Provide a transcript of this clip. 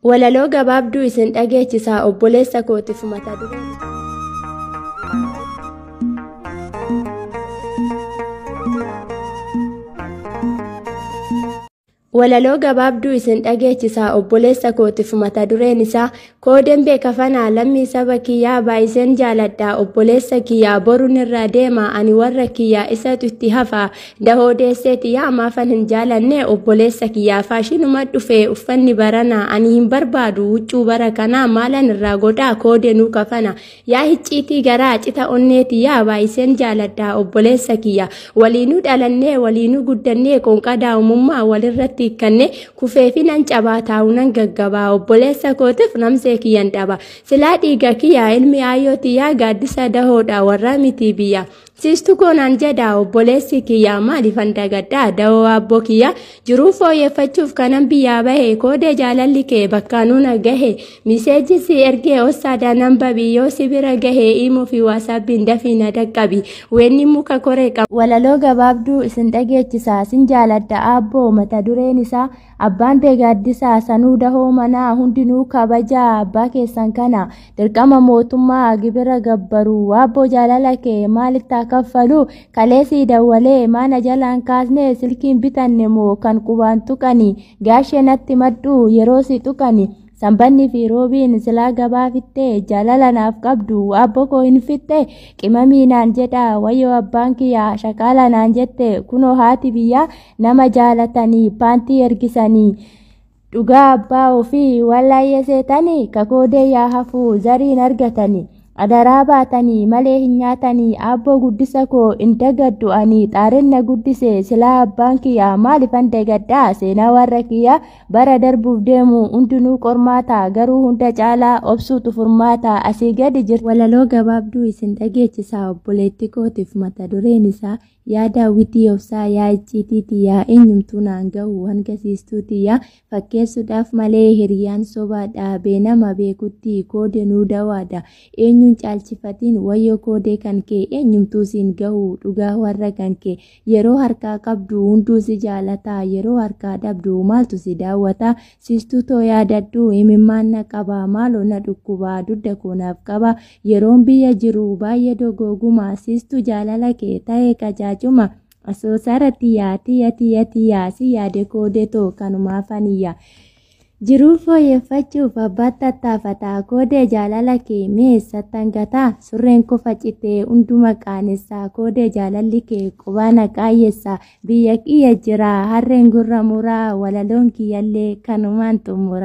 Walaloo gabaabduu isin dhageechisaa obboleessa kootiif mata duree. Walaloo gabaabduu isin dhageechisaa obboleessa kootiif mata dureen isaa koo dembee kafanaa lammii saba kiyyaa baay'iseen jaaladha obboleessa kiyyaa boruun irra deema ani warra kiyyaa isatu itti hafa Dahoo deessee tiyyaa maafan hin jaalanne obboleessa kiyyaa faashinuma dhufe uffanni barana ani hin barbaadu huccuu bara kanaa maalan irraa godhaa koode nuu kafana yaa hicciitii garaa cita onnee tiyyaa baay'iseen jaaladha obboleessa kiyya waliinuu dhalannee waliinuu guddannee qoonqaa daa'imummaa walirratti hikkannee kufee fi nan cabaa taa'u nan gaggabaa obboleessa kootiif namsee kiyyan dhaba silaa dhiiga kiyyaa ilmi aayoo tiyyaa gaaddisa dahoodha warraa mitii biyya Siistu koo naan jedhaa obboleessi kiyyaa maaliifan dagadhaa dawoo abboo kiyyaa jiruu fooyyeffachuuf kanan biyyaa bahe koodee jaalalli kee bakka nuna gahe miseeji si ergee ossaada nan babi yoo si bira gahe imoo fi waasaabbiin dafii na dhaqqabi weenni muka koree qaba. Walaloo gabaabduu isin dhageechisa sin jaaladha abboo mata dureen isaa Abbaan tee gaaddisaa sanuu dahoo manaa hundinuu kabajaa abbaa keessan kana dirqama mootummaa gibira gabbaru waabboo jaalala kee maalitti haa kaffalu kaleesii dawwalee maana jalaan kaasnee silkiin bitanne moo kan qubaan tuqani gaashee natti madhuu yeroo si tuqani sanbanni fi roobiin silaa gabaa fixxee jaalala naaf qabdu waabboo koo hin fixxee qimamii naan jedhaa wayyoo abbaan kiyyaa shaqaala naan jette kunoo haati biyyaa nama jaalatanii paantii ergisanii dhugaa abbaa ofii wallaayee seetanii kakoodee yaa hafuu zariin argatanii adaraa baatanii malee hin nyaatanii abboo guddisa koo hin dagaddu ani xaarenna guddise silaa abbaan kiyyaa maalifan dagaddaa seenaa warra kiyyaa bara darbuuf deemu hundinuu qormaata garuu hunda caalaa obsuutu furmaata asii gadi jirtu walaloo gabaabduu isin dhageechisaa obboleetti kootiif mata dureen isaa Yaa daawwitii obsaa yaa icciitii tiyyaa eenyumtuu naan gahu hanga siistuu tiyyaa fakkeessuudhaaf malee hiriyaan sobaadha beenama beekutti koode nuu dawaadha eenyuun caalchifatiin wayyoo koodee kan kee eenyumtuu siin gahu dhugaa warra kan kee yeroo harkaa qabdu hunduu si jaalataa yeroo harkaa dhabdu maaltu si daawwataa Sistuu too yaadadhu imimmaan na qaba maaloo na dhukkuba dugda koo naaf qaba yeroon biyya jiru baay'ee dogooguma sistuu jaalala kee ta'e qajaajuma asoosaara tiyyaa tiyya tiyya tiyyaa si yaade koode too kanumaa faniyya jiruu fooyyeffachuuf abbaatti tattaafataa koodee jaalala kee mee sattan gataa surreen koo facitee hunduma qaanessaa koodee jaalalli kee qubaa na qaayyessaa Biyya kiyya jira harreen gurra muraa walaloon kiyyallee kanumaan xumura.